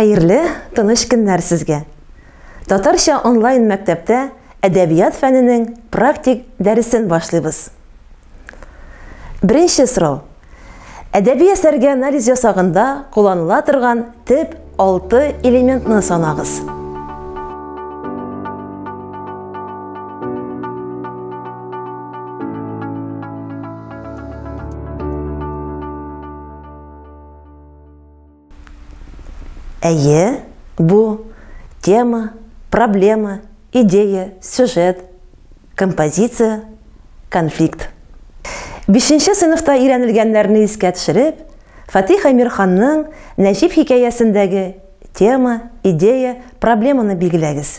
Хәерле, тыныч көннәр сезгә! Татарча онлайн мәктәптә әдәбият фәненең практик дәресен башлыйбыз. Беренче сорау. Әдәби әсәргә анализ ясагында кулланыла торган төп алты элементны санагыз. Әйе, бу тема, проблема, идея, сюжет, композиция, конфликт. Бишенче сыйныфта өйрәнелгәннәрне искә төшереп, Фатих Әмирханның Нәҗип хикәясендәге тема, идея, проблеманы билгеләгез.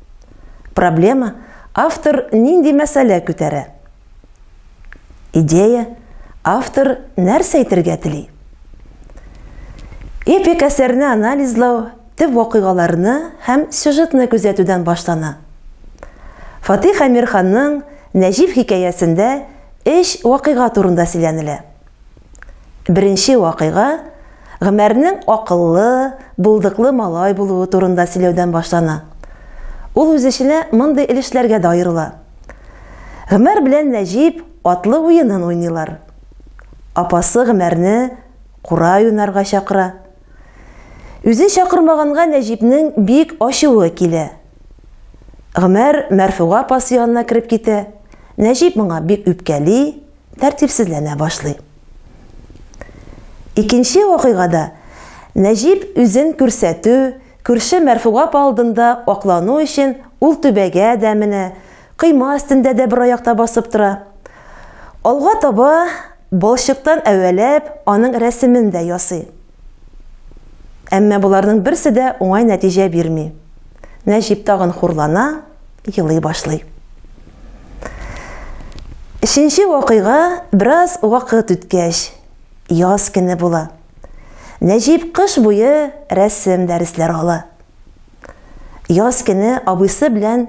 Проблема, автор нинди мәсьәлә күтәрә? Идея, автор нәрсә әйтергә тели? Эпик әсәрне анализлау төп вакыйгаларны һәм сюжетны күзәтүдән башлана. Фатих Әмирханның Нәҗип хикәясендә эш вакыйга турында сөйләнелә. Беренче вакыйга Гомәрнең акыллы, булдыклы малай булуы турында сөйләүдән башлана. Ул үз эченә мондый өлешләргә дә аерыла. Гомәр белән Нәҗип атлы уенын уйныйлар. Апасы Гомәрне кура уйнарга чакыра. Үзе чакырмаганга Нәҗипнең бик ачуы килә. Гомәр Мәрфуга апасы янына кереп китә. Нәҗип моңа бик үпкәли, тәртипсезләнә башлый. Икенче вакыйгада Нәҗип үзен күрсәтү, күрше Мәрфугап алдында аклану өчен ул түбәгә дә менә, койма өстендә дә бер аякта басып тора. Алга таба балчыктан әвәләп аның рәсемен дә ясый. Әмма боларның берсе дә уңай нәтиҗә бирми. Нәҗип тагын хурлана, елый башлый. Өченче вакыйга бераз вакыт үткәч, яз көне була. Нәҗип кыш буе рәсем дәресләре ала. Яз көне абыйсы белән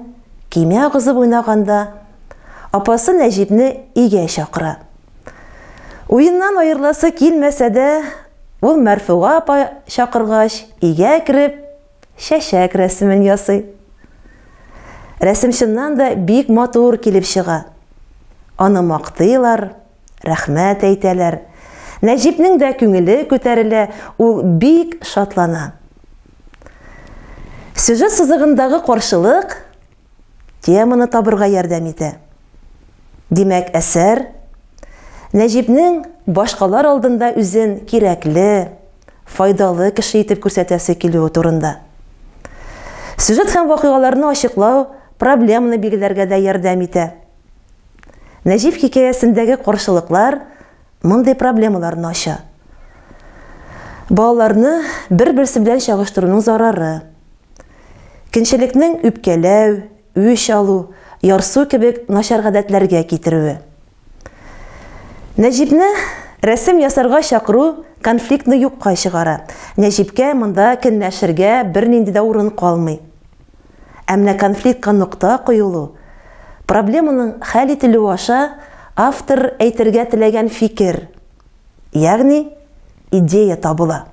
кимә агызып уйнаганда, апасы Нәҗипне өйгә чакыра. Уеннан аерыласы килмәсә дә, ул Мәрфуга апа чакыргач, өйгә кереп, чәчәк рәсемен ясый. Рәсем чыннан да бик матур килеп чыга. Аны мактыйлар, рәхмәт әйтәләр. Нәҗипнең дә күңеле күтәрелә, ул бик шатлана. Сюжет сызыгындагы каршылык теманы табырга ярдәм итә. Димәк, әсәр Нәҗипнең башкалар алдында үзен кирәкле, файдалы кеше итеп күрсәтәсе килүе турында. Сюжет һәм вакыйгаларны ачыклау проблеманы билгеләргә дә ярдәм итә. Нәҗип хикәясендәге каршылыклар мондый проблемаларны ача. Балаларны бер-берсе белән чагыштыруның зарары. Кенчелекнең үпкәләү, үч алу, ярсу кебек начар гадәтләргә китерүе. Нәҗипне рәсем ясарга чакыру конфликтны юкка чыгара. Нәҗипкә монда кенләшергә бернинди дә урын калмый. Ә менә конфликтка нокта куелу, проблеманың хәл ителүе аша автор әйтергә теләгән фикер, ягъни идея табыла.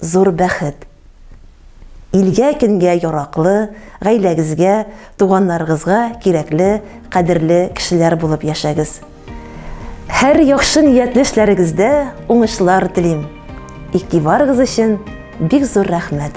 Зур бәхет. Илгә көнгә яраклы, гаиләгезгә, туганнарыгызга кирәкле, кадерле кешеләр булып яшәгез. Һәр яхшы ниятле эшләрегездә уңышлар телим. Игътибарыгыз өчен бик зур рәхмәт.